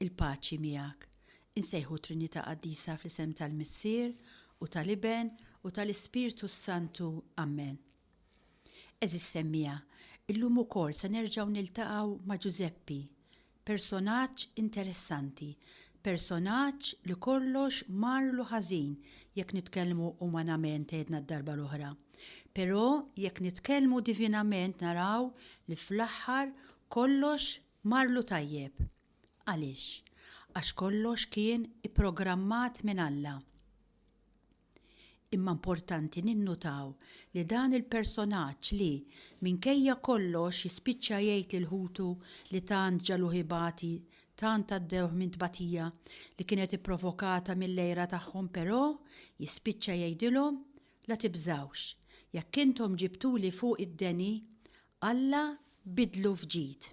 Il-paċi miegħek. Insejħu Trinità Qaddisa fl-isem tal-Missier u tal-Iben u tal-Ispirtu s-Santu. Ammen. Għeżież semmiegħa, illum ukoll se nerġgħu niltaqgħu ma' Ġużeppi, personaġġ interessanti, personaġġ li kollox marlu ħażin jekk nitkellmu umanament għedna d-darba l-oħra. Però jekk nitkellmu divinament naraw li fl-aħħar kollox Marlu tajjeb. Għaliex? Għax kollox kien ipprogrammat minn Alla. Imma importanti ninnutaw li dan il-personaġġ li, minkejja kollox jispiċċa jgħid lil ħutu li tant ġagħluh ibati, tant għaddewh minn tbatija li kienet ipprovokata mill-għira tagħhom però jispiċċa jgħidilhom, La tibżgħux, jekk intom ġibtuli fuq id-deni, Alla biddlu f'ġid.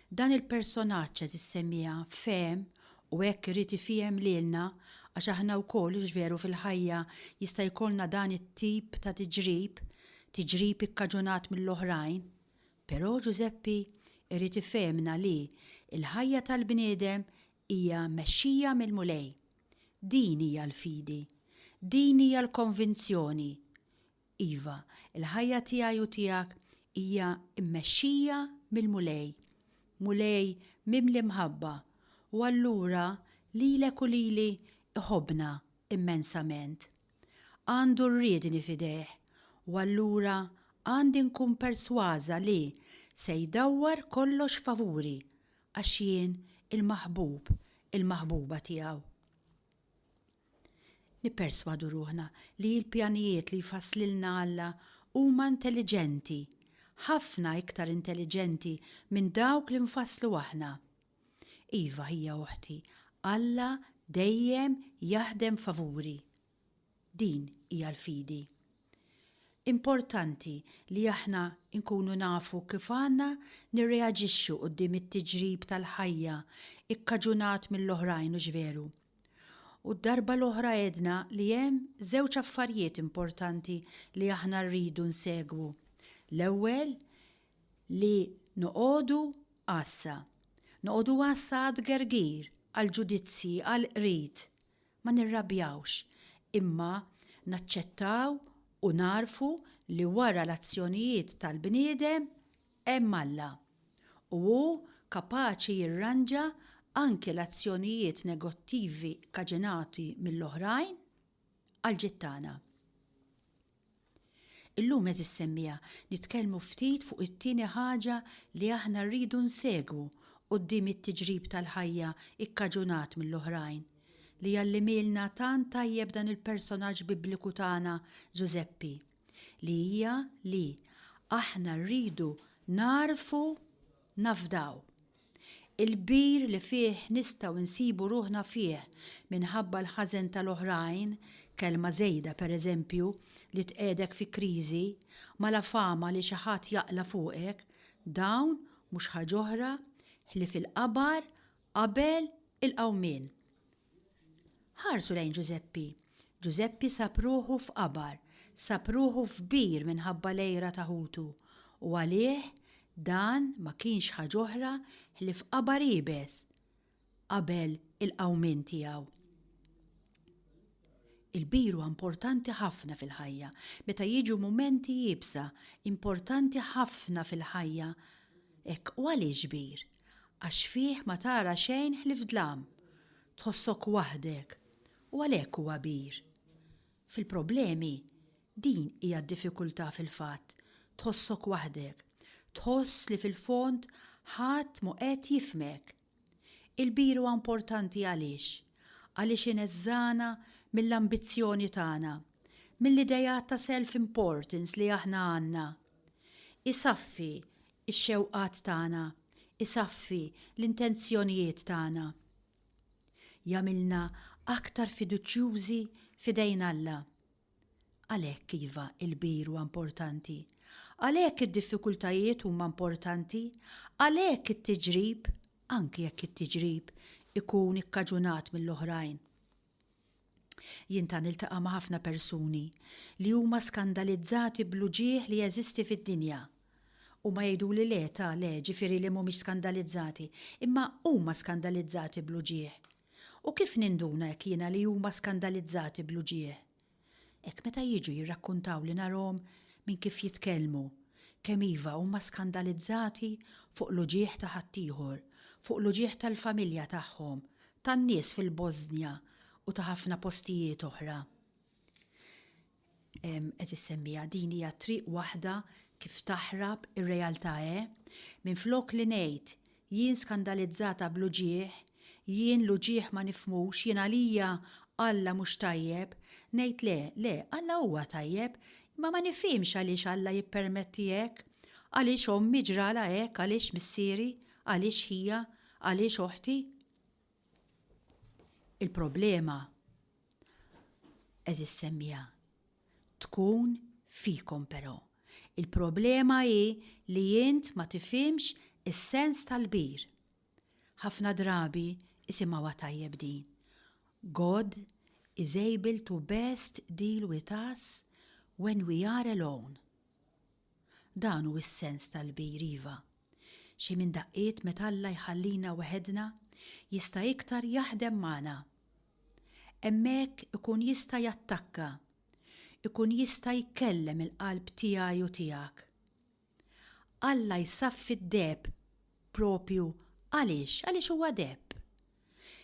Dan il-personaġġ għeżiż semmiegħa fehem u hekk irid ifiehem lilna għax aħna wkoll hux veru fil-ħajja jista' jkollna dan it-tip ta' tiġrib, tiġrib ikkaġunat mill-oħrajn. Però Ġużeppi irid ifehemna li l-ħajja tal-bniedem hija mexxija mill-Mulej. Din hija l-fidi. Din hija l-konvinzjoni. Iva, il-ħajja tiegħi u tiegħek hija mmexxija mill-Mulej, Mulej mimli mħabba, u allura lilek u lili iħobbna immensament. Għandu r-riedni f'idejh, u allura għandi nkun persważa li se jdawwar kollox favuri għax jien il-maħbub, il-maħbuba tiegħu. Nipperswadu ruħna li l-pjanijiet li jfasslilna Alla huma intelliġenti, ħafna iktar intelliġenti minn dawk li nfasslu aħna. Iva, ħija oħti, Alla dejjem jaħdem favuri. Din hija l-fidi. Importanti li aħna nkunu nafu kif għandna nirreaġixxu quddiem it-tiġrib tal-ħajja kkaġunat mill-oħrajn, hux veru? U d-darba l-oħra għedna li hemm żewġ affarijiet importanti li aħna rridu nsegwu. L-ewwel li noqogħdu għassa. Noqogħdu għassa għat-tgergir, għall-ġudizzji, għall-qrid. Ma nirrabjawx, imma naċċettaw u nagħrfu li wara l-azzjonijiet tal-bniedem, Hemm Alla, u hu kapaċi jirranġa anki l-azzjonijiet negottivi kkaġinati mill-oħrajn għall-ġid tagħna. Illum, għeżież semmiegħa, nitkellmu ftit fuq it-tieni ħaġa li aħna rridu nsegwu quddiem it-tiġrib tal-ħajja kkaġunat mill-oħrajn, li jgħallimilna tant tajjeb dan il-personaġġ Bibliku tagħna, Ġużeppi. li hija li aħna rridu nagħrfu nafdaw. Il-kbir li fih nistgħu nsibu ruħna fih minħabba l-ħażen tal-oħrajn, kelma żejda pereżempju li tqiegħdek fi kriżi, malafama li xi ħadd jaqla' fuqek, dawn mhux ħaġ'oħra ħlief il-qabar qabel il-qawmien. Ħarsu lejn Ġużeppi. Ġużeppi sab ruħu f'qabar, sab ruħu f'bir minħabba l-għira ta' ħutu, u għalih dan ma kienx ħaġ'oħra ħlief qabar iebes qabel il-qawmien tiegħu. Il-bir huwa importanti ħafna fil-ħajja. Meta jiġu mumenti iebsa, importanti ħafna fil-ħajja hekk u għaliex bir? Għax fih ma tara xejn ħlief dlam. Tħossok waħdek u għalhekk hu għabir. Fil-problemi, din hija d-diffikultà fil-fatt, tħossok waħdek. Tħoss li fil-fond ħadd mhu qed jifhmek. Il-bir huwa importanti għaliex? Għaliex ineżżagħna mill-ambizzjoni tagħna, mill-ideat ta' self-importance li aħna għandna. Isaffi ix-xewqat tagħna, isaffi l-intenzjonijiet tagħna. Jagħmilna aktar fiduċjużi f'idejn Alla. Għalhekk iva, il-kbir huwa importanti. Għalhekk id-diffikultajiet huma importanti. Għalhekk it-tiġrib, anki jekk it-tiġrib ikun ikkaġunat mill-oħrajn. Jien ta' niltaqa' ma' ħafna persuni li huma skandalizzati bl-uġigħ li jeżisti fid-dinja. Huma jgħiduli le ta' le ġifieri li mhumiex skandalizzati, imma huma skandalizzati bl-uġigħ. U kif ninduna hekk jiena li huma skandalizzati bl-uġigħ? Hekk meta jiġu jirrakkuntawli narahom minn kif jitkellmu, kemm iva huma skandalizzati fuq l-uġigħ ta' ħaddieħor, fuq l-uġigħ tal-familja tagħhom, tan-nies fil-Bożnja u ta' ħafna postijiet oħra. Qed issemmiha din hija triq waħda kif taħrab ir-realtà eh? Minflok li ngħid, jien skandalizzata bl-uġigħ, jien l-uġigħ ma nifhmux, jien għalija Alla mhux tajjeb, ngħid le, le, Alla huwa tajjeb, imma ma nifhimx għaliex Alla jippermetti hekk, għaliex ommi ġralha hekk, għaliex missieri, għaliex ħija, Għaliex oħti? Il-problema, eżis semmija, tkun fikom però. Il-problema hi li int ma tifimx is-sens tal-bir. Ħafna drabi isimgħuha tajjeb din. God is able to best deal with us when we are alone. Dan hu s-sens tal-kbir, iva. Xi minn daqqiet meta Alla jħallina weħedna jista' iktar jaħdem magħna. Hemmhekk ikun jista' jattakka, ikun jista' jkellem il-qalb tiegħi u tiegħek. Alla jsaffi d-deheb proprju għaliex? Għaliex huwa deheb.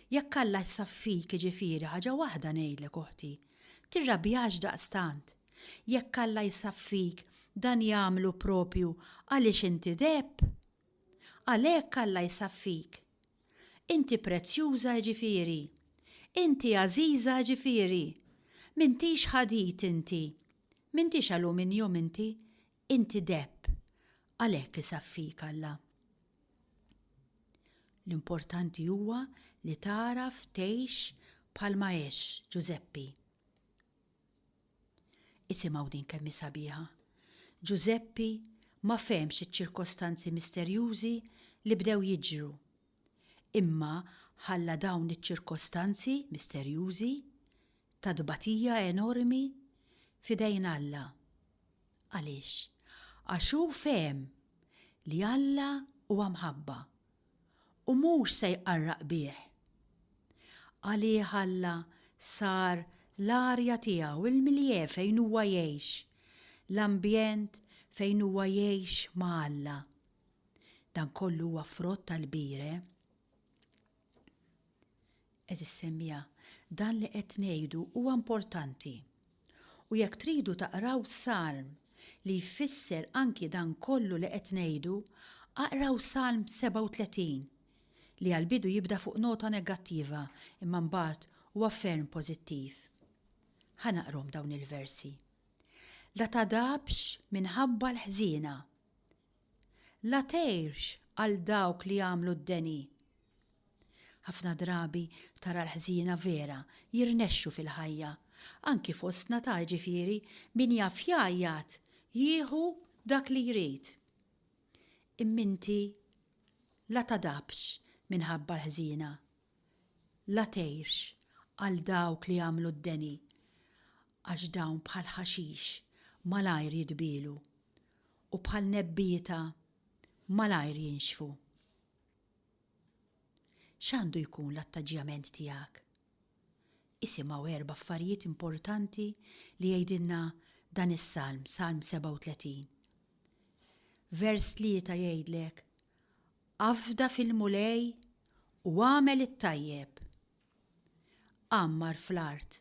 Jekk Alla jsaffik jiġifieri ħaġa waħda ngħidlek oħti, tirrabjax daqstant. Jekk Alla jsaffik dan jagħmlu proprju għaliex inti dgħeb. Għalhekk Alla jsaffik. Inti prezzjuża jiġifieri. Inti għażiża jiġifieri. M'intix ħadid inti. M'intix aluminjum inti. Inti deheb, għalhekk isaffik Alla. L-importanti huwa li tagħraf tgħix bħalma għex Ġużeppi. Isimgħu din kemm hi sabiħa. Ġużeppi ma fehmx iċ-ċirkostanzi misterjużi li bdew jiġru, imma ħalla dawn iċ-ċirkostanzi misterjużi, ta' tbatija enormi, f'idejn Alla. Għaliex? Għax hu fehem li Alla huwa mħabba u mhux se jqarraq bih. Għalih Alla sar l-arja tiegħu, il-milieu fejn huwa jgħix, l-ambjent fejn huwa jgħix ma' Alla. Dan kollu huwa frott tal-kbire. Għeżież semmiegħa, dan li qed ngħidu huwa importanti. U jekk tridu taqraw salm li jfisser anki dan kollu li qed ngħidu, aqraw Salm 37, li għall-bidu jibda fuq nota negattiva imma mbagħad huwa ferm pożittiv. Ħa naqrhom dawn il-versi. La tagħdabx minħabba l-ħżiena. la tgħirx għal dawk li jagħmlu d-deni. Ħafna drabi tara l-ħżiena vera jirnexxu fil-ħajja, anki fostna ta' jiġifieri min jaf jgħajjat jieħu dak li jrid. Imma inti la tadabx minħabba l-ħżiena, la tgħirx għal dawk li jagħmlu d-deni, għax dawn bħall-ħaxix malajr jitbielu. u bħal nebbieta malajr jinxfu. X'għandu jkun l-attaġġjament tiegħek? Isimgħu erba' affarijiet importanti li jgħidilna dan is-salm, Salm 37. Vers tlieta jgħidlek, Afda fil-Mulej u għamel it-tajjeb, Għammar fl-art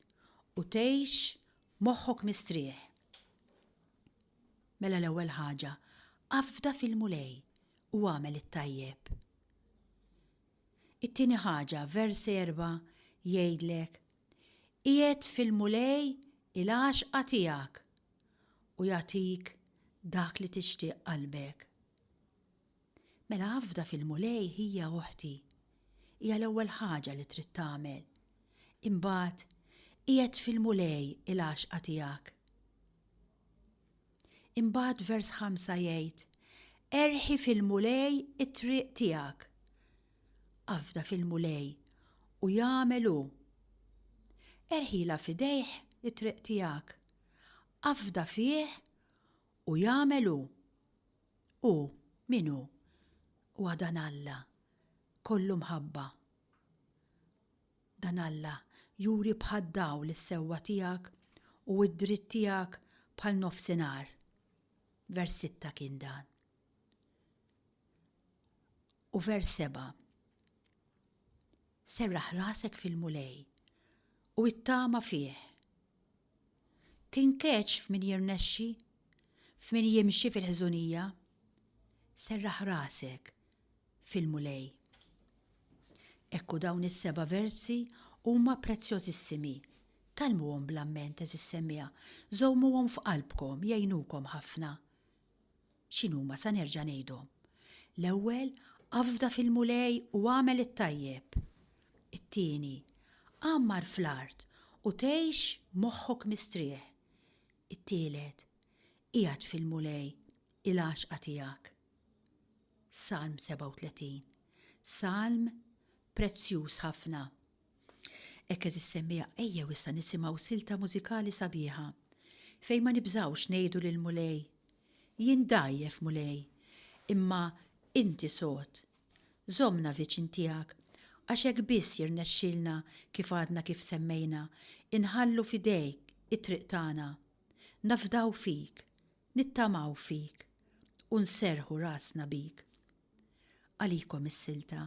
u tgħix moħħok mistrieħ. Mela l-ewwel ħaġa, afda fil-Mulej u agħmel it-tajjeb. It-tieni ħaġa, vers erba' jgħidlek, Qiegħed fil-Mulej il-għaxqa tiegħek u jagħtik dak li tixtieq qalbek. Mela afda fil-Mulej ħija u oħti. Hija l-ewwel ħaġa li trid tagħmel. Imbagħad qiegħed fil-Mulej il-għaxqa tiegħek. Imbagħad vers ħamsa jgħid, Erħi fil-Mulej it-triq tiegħek. Afda fil-Mulej u jagħmel hu. Erħila f'idejh it-triq tiegħek. Afda fih u jagħmel hu. Hu, min hu? Huwa dan Alla, kollu mħabba. Dan Alla juri bħad-dawl is-sewwa tiegħek u d-dritt tiegħek bħal nofsinhar. Vers sitta kien dan. U vers seba' serraħ rasek fil-Mulej u ittama fih Tinkeċ f'min jirnexxi, f'min jimxi fil-ħżunija, serraħ rasek fil-Mulej. Hekk u dawn is-seba' versi huma prezzjożissimi. Tgħallmuhom bl-amment, għeżież semmiegħa, żommuhom f'qalbkom, jgħinukom ħafna. X'inhuma sa nerġa' ngħidhom? L-ewwel, afda fil-Mulej u agħmel it-tajjeb. It-tieni, għammar fl-art u tgħix moħħok mistrieħ. It-tielet, qiegħed fil-Mulej, il-għaxqa tiegħek. Salm 37. Salm prezzjuż ħafna. Hekk għeżiż semmiegħa ejjew issa nisimgħu silta mużikali sabiħa fejn ma nibżgħux ngħidu lill-Mulej, Jien dgħajjef, Mulej, imma Inti sod. Żommna viċin tiegħek għax hekk biss jirnexxilna kif għadna kif semmejna inħallu f'idejk it-triq tagħna, nafdaw fik, nittamaw fik u nserrħu rasna bik. Għalikom is-silta.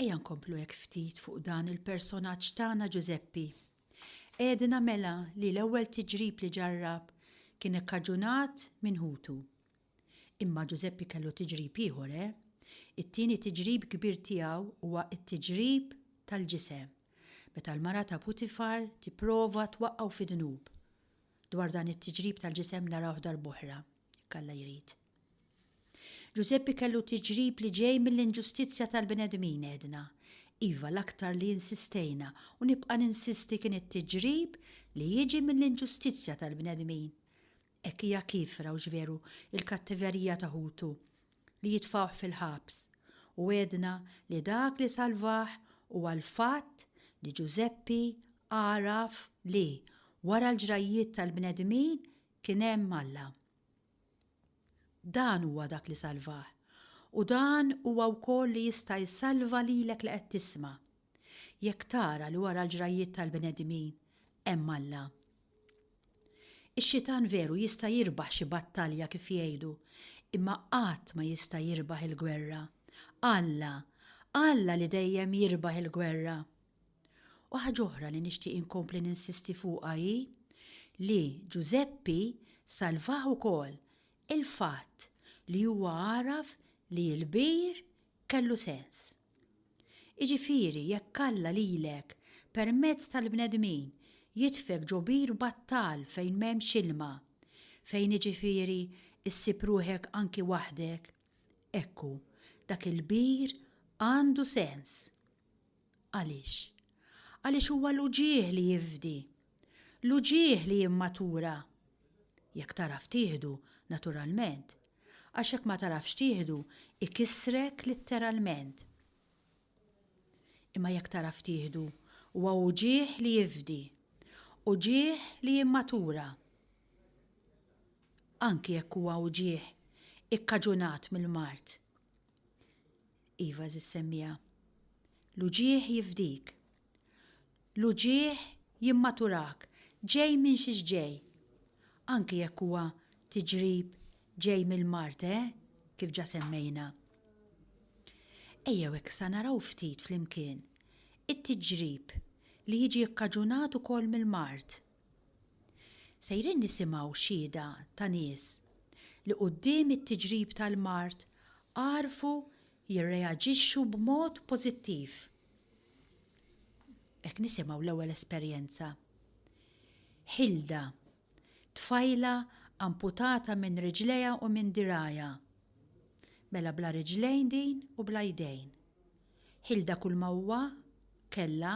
Ejja nkomplu hekk ftit fuq dan il-personaġġ tagħna Ġużeppi. Għedna mela li l-ewwel tiġrib li ġarrab kien ikkaġunat minn ħutu. Imma Ġużeppi kellu tiġrib ieħor, eh? It-tieni tiġrib kbir tiegħu huwa t-tiġrib tal-ġisem, meta l-mara ta' Putifar tipprova twaqqgħu fid-dnub. Dwar dan it-tiġrib tal-ġisem narawh darb'oħra. kalla jrid. Ġużeppi kellu tiġrib li ġej mill-inġustizzja tal-bnedmin għedna. Iva l-aktar li insistejna u nibqa' ninsisti kien it-tiġrib li jiġi mill-inġustizzja tal-bnedmin. Hekk hija kiefra u x'veru l-kattiverija ta' ħutu li jitfgħuh fil-ħabs. U għedna li dak li salvah huwa l-fatt li Ġużeppi għaraf li, wara l-ġrajjiet tal-bnedmin, Kien hemm Alla. Dan huwa dak li salvah, u dan huwa wkoll li jista' jsalva lilek li qed tisma', jekk tara li wara l-ġrajjiet tal-bnedmin hemm Alla. Ix-xitan veru jista' jirbaħ xi battalja kif jgħidu, imma qatt ma jista' jirbaħ il-gwerra. Alla, Alla li dejjem jirbaħ il-gwerra. U ħaġa oħra li nixtieq inkompli ninsisti fuqha hi li Ġużeppi salvah ukoll il-fatt li huwa għaraf li l-bir kellu sens. Jiġifieri jekk Alla lilek permezz tal-bnedmin jitfgħek ġo bir battal fejn m'hemmx ilma, fejn jiġifieri ssib ruħek anki waħdek, ekku, dak il-bir għandu sens. Għaliex? Għaliex huwa l-uġigħ li jifdi. L-uġigħ li jimmatura. Jekk tagħraf tieħdu, naturalment. Għax jekk ma tagħrafx tieħdu, ikissrek litteralment. Imma jekk tagħraf tieħdu, huwa uġigħ li jifdi. Uġigħ li jimmatura. Anki jekk huwa uġigħ ikkaġunat mill-mard. Iva ziz semmiha. L-uġigħ jifdik. L-uġigħ jimmaturak, ġej minn xiex ġej. Anki jekk huwa tiġrib ġej mill-mard, eh, kif ġa semmejna. Ejjew issa naraw ftit flimkien it-tiġrib li jiġi kkaġunat ukoll mill-mard. Sejrin nisimgħu xhieda ta' nies li quddiem it-tiġrib tal-mard għarfu jirreaġixxu b'mod pożittiv. Qed nisimgħu l-ewwel esperjenza. Hilda, tfajla amputata minn riġlejha u minn dirgħajha. Mela bla riġlejn din u bla jdejn. Hilda kulma huwa kellha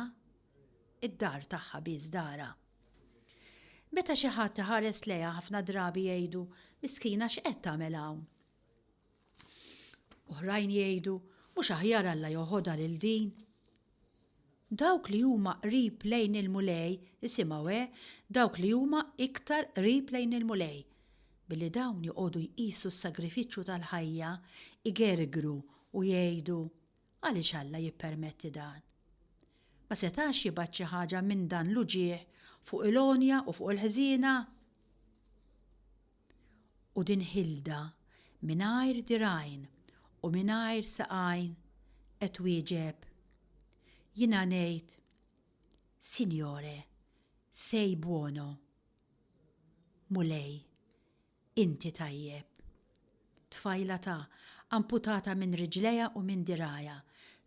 id-dar tagħha biss darha. Meta xi ħadd iħares lejha ħafna drabi jgħidu, Miskina x'qed tagħmel hawn? Oħrajn jgħidu, Mhux aħjar Alla joħodha lil din? Dawk li huma qrib lejn il-Mulej, isimgħu eh, dawk li huma iktar qrib lejn il-Mulej, billi dawn joqogħdu jqisu s-sagrifiċċju tal-ħajja, igergru u jgħidu, Għaliex Alla jippermetti dan? Ma setax jibgħat xi ħaġa minn dan l-uġigħ fuq il-għonja u fuq il-ħżiena? U din ħilda mingħajr dirgħajn u mingħajr saqajn qed twieġeb, Jiena ngħid, Sinjore, sei buono. Mulej, Inti tajjeb. Tfajla ta', amputata minn riġlejha u minn dirgħajha,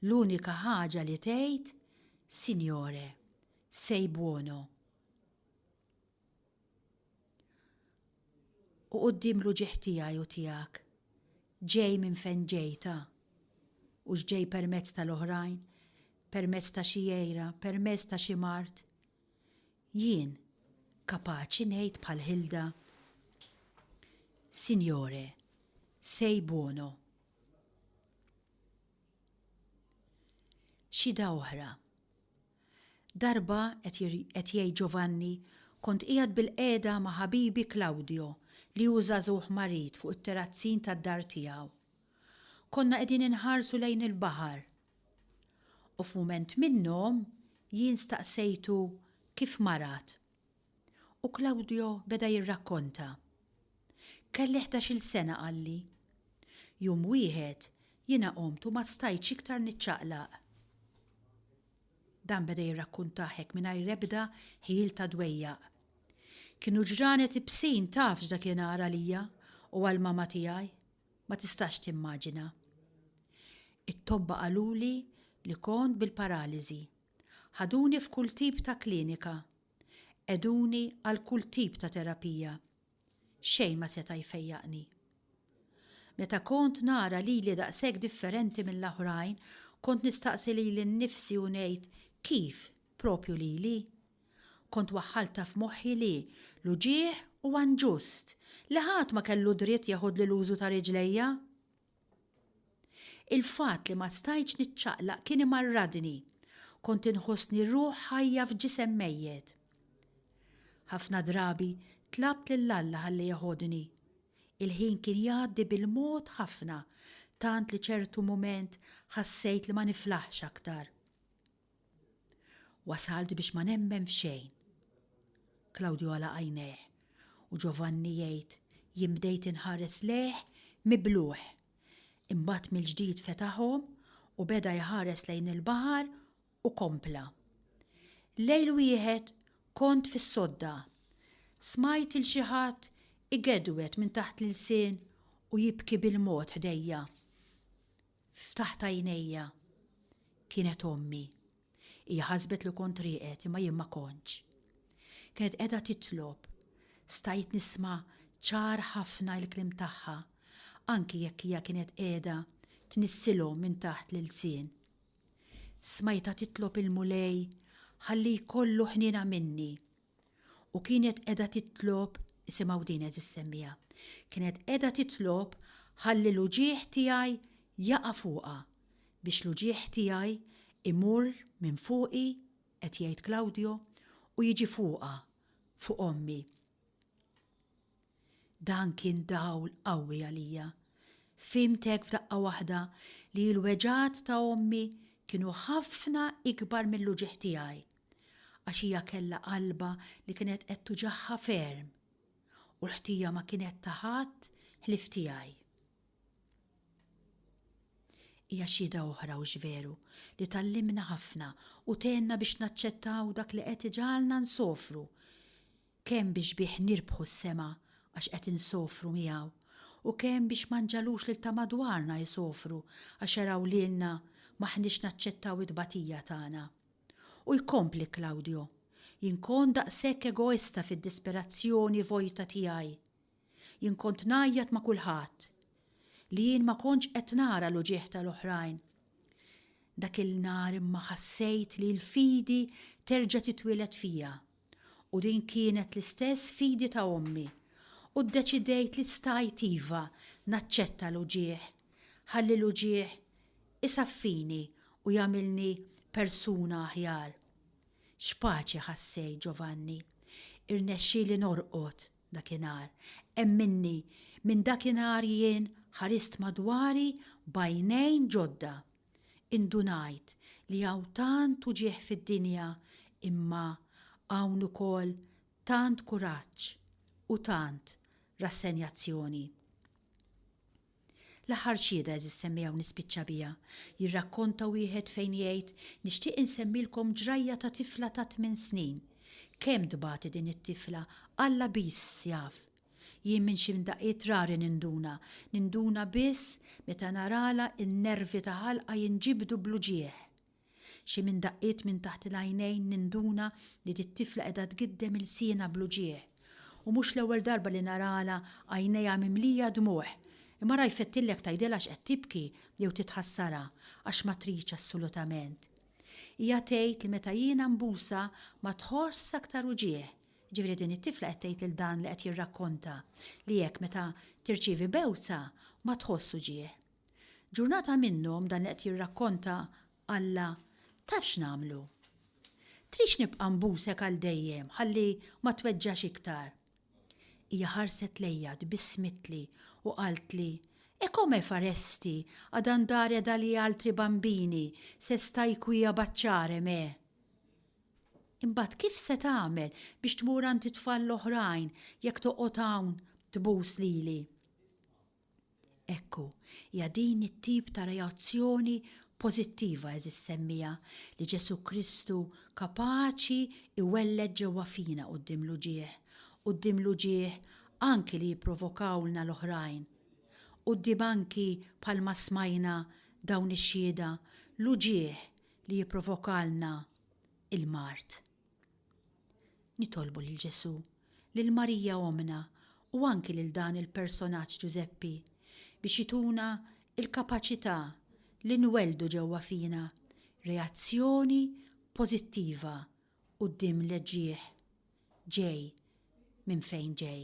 l-unika ħaġa li tgħid, Signore, sei buono. U quddiem l-uġigħ tiegħi u tiegħek, ġej minn fejn ġej ta'. Hux ġej permezz tal-oħrajn, permezz ta' xi għira, permezz ta' xi mard. Jien kapaċi ngħid bħal Hilda, Signore, sei buono. Xhieda oħra, Darba, qed jgħid Giovanni, kont qiegħed bilqiegħda ma' ħabibi Claudio li hu żagħżugħ marid fuq it-terazzin tad-dar tiegħu. Konna qegħdin inħarsu lejn il-baħar U f'mument minnhom jien staqsejtu kif marat. U Claudio beda jirrakkonta. Kelli ħdax-il sena qalli. Jum wieħed jiena qomt u ma stajtx iktar niċċaqlaq. Dan beda jirrakkuntah hekk mingħajr ebda ħjiel ta' dwejjaq. Kienu ġranet ibsin taf x'dakinhar għalija u għall-mama tiegħi. Ma tistax timmaġina. It-tobba qaluli li kont bil-paraliżi. Ħaduni f'kull tip ta' klinika. Qegħduni għal kull tip ta' terapija. Xejn ma seta' jfejjaqni. Meta kont nara lili daqshekk differenti mill-oħrajn, kont nistaqsi lili nnifsi u ngħid, 'Kif? Propju lili? Kont waħħaltha f'moħħi li, l-uġigħ huwa nġust, li ħadd ma kellu dritt jeħodli l-użu ta' riġlejja. Il-fatt li ma stajtx niċċaqlaq kien imarradni, kont inħossni ruħ ħajja f'ġisem mejjet. Ħafna drabi tlabt lil Alla ħalli jeħodni. Il-ħin kien jgħaddi bil-mod ħafna, tant li ċertu mument ħassejt li ma niflaħx aktar. Wasalt biex ma nemmen f'xejn. Klawdju għalaq għajnejh u Ġovanni jgħid, Jien bdejt inħares lejh mibluh. Imbagħad mill-ġdid fetaħhom u beda jħares lejn il-baħar u kompla, Lejl wieħed kont fis-sodda. Smajt 'il xi ħadd igedwed minn taħt l-ilsien u jibki bil-mod ħdejja. Ftaħt għajnejja. Kienet ommi. Hija ħasbet li kont rieqed imma jien ma kontx. Kienet qiegħda titlob. Stajt nisma' ċar ħafna l-kliem tagħha anki jekk hija kienet qiegħda tnissilhom minn taħt l-ilsien. Smajtha titlob il-Mulej ħalli jkollu ħniena minni u kienet qiegħda titlob isimgħu din eżis semmiegħa. Kienet qiegħda titlob ħalli l-uġigħ tiegħi jaqa' fuqha biex l-uġigħ tiegħi imur minn fuqi, qed jgħid Claudio, u jiġi fuqha, fuq ommi. Dan kien dawl qawwi għalija. Fhimt hekk f'daqqa waħda li l-weġgħat ta' ommi kienu ħafna ikbar mill-uġigħ tiegħi, għax hija kellha qalbha li kienet qed tuġigħha ferm, u l-ħtija ma kienet ta' ħadd ħlief tiegħi. Hija xhieda oħra hux veru li tgħallimna ħafna u tgħinna biex naċċettaw dak li qed iġagħalna nsofru, kemm biex bih nirbħu s-sema għax qed insofru miegħu, u kemm biex ma nġagħlux lil ta' madwarna jsofru għax araw lilna m'aħniex naċċettaw it-tbatija tagħna. U jkompli Claudio, Jien kont daqshekk egoista fid-disperazzjoni vojta tiegħi. Jien kont ngħajjat ma' kulħadd. Li jien ma kontx qed nara l-uġigħ tal-oħrajn. Dak il-nhar imma ħassejt li l-fidi terġa' titwieled fija. U din kienet l-istess fidi ta' ommi u ddeċidejt li stajt iva naċċetta l-uġigħ, ħalli l-uġigħ isaffini u jagħmilni persuna aħjar. X'paċi ħassejt, Giovanni. Irnexxieli norqod dakinhar. Hemm minni, minn dakinhar jien ħarist madwari b'għajnejn ġodda. Indunajt li hawn tant uġigħ fid-dinja imma hawn ukoll tant kuraġġ u tant rassenjazzjoni. L-aħħar xhieda għeżież semmija u nispiċċa biha. Jirrakkonta wieħed fejn jgħid, Nixtieq insemmilkom ġrajja ta' tifla ta' tmien snin. Kemm tbati din it-tifla, Alla biss jaf Jien minn xi mdaqqiet rari ninduna, ninduna biss meta naralha n-nervi ta' ħalqha jinġibdu bl-uġigħ. Xi minn daqqiet minn taħt il-għajnejn ninduna li dit-tifla qiegħda tgiddem ilsienha bl-uġigħ. U mhux l-ewwel darba li naralha għajnejha mimlija dmugħ. Imma ra jfettillek tgħidilha x'qed tibki jew titħassarha għax ma tridx assolutament. Hija tgħid li meta jiena nbusha ma tħoss aktar uġigħ, Jiġifieri din it-tifla qed tgħid lil dan li qed jirrakkonta li hekk meta tirċievi bewsa ma tħoss uġigħ. Ġurnata minnhom dan li qed jirrakkonta qallha, Taf x'nagħmlu? Tridx nibqa' nbusek għal dejjem ħalli ma tweġġax iktar? Hija ħarset lejja, tbissmitli u qaltli, E come faresti ad andare dagli altri bambini se stai qui a baciarem, eh? Imbagħad kif se tagħmel biex tmur għand it-tfal l-oħrajn jekk toqgħod hawn tbus lili? Ekku, hija din it-tip ta' reazzjoni pożittiva eżis semmija li Ġesù Kristu kapaċi iwelled ġewwa fina quddiem l-uġigħ, quddiem l-uġigħ anki li jipprovokawlna l-oħrajn. Quddiem anki bħalma smajna dawn ix-xhieda, l-uġigħ li jipprovokalna l-mard. Nitolbu lil Ġesù, lil Marija ommna u anki lil dan il-personaġġ Ġużeppi biex jituna l-kapaċità li nwelldu ġewwa fina reazzjoni pożittiva quddiem l-ġieħ ġej minn fejn ġej.